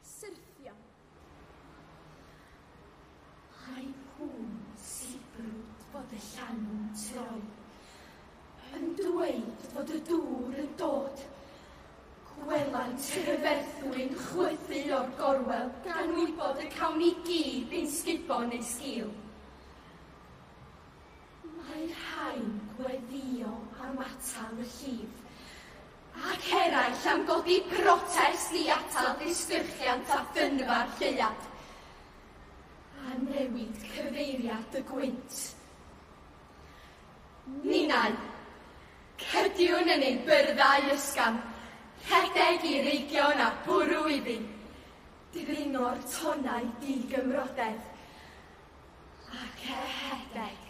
Syrthia. Ai pun sibrwd fod y llanw'n troi, yn dweud fod y dŵr yn dod, gwelant y rhyferthwy'n chwythu o'r gorwel gan wybod y cawn ni gyd ein sgubo neu sgil. Mae rhai'n gweddïo am atal y llif, ac eraill am godi protest i atal disgyrchiant a thynnu'r lleuad, a newid cyfeiriad y gwynt. Ninnau, cydiwn yn ein byrddau ysgafn, rhedeg i reigion a bwrw iddi ddringo'r tonnau di-gymrodedd. Ac er rhedeg,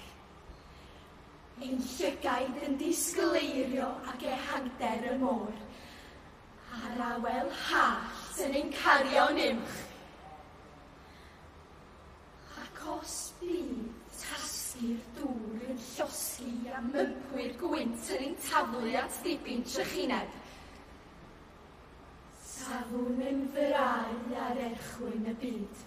ein llygaid yn disgwyl eirio ac ehangder y môr, a'r awel hallt yn ein cario yn uwch. Ac os bydd tasgu'r dŵr yn llosgi a mympwyr gwynt yn ein taflu at ddibyn trychineb, safwn yn fyrau ar erchwyn y byd.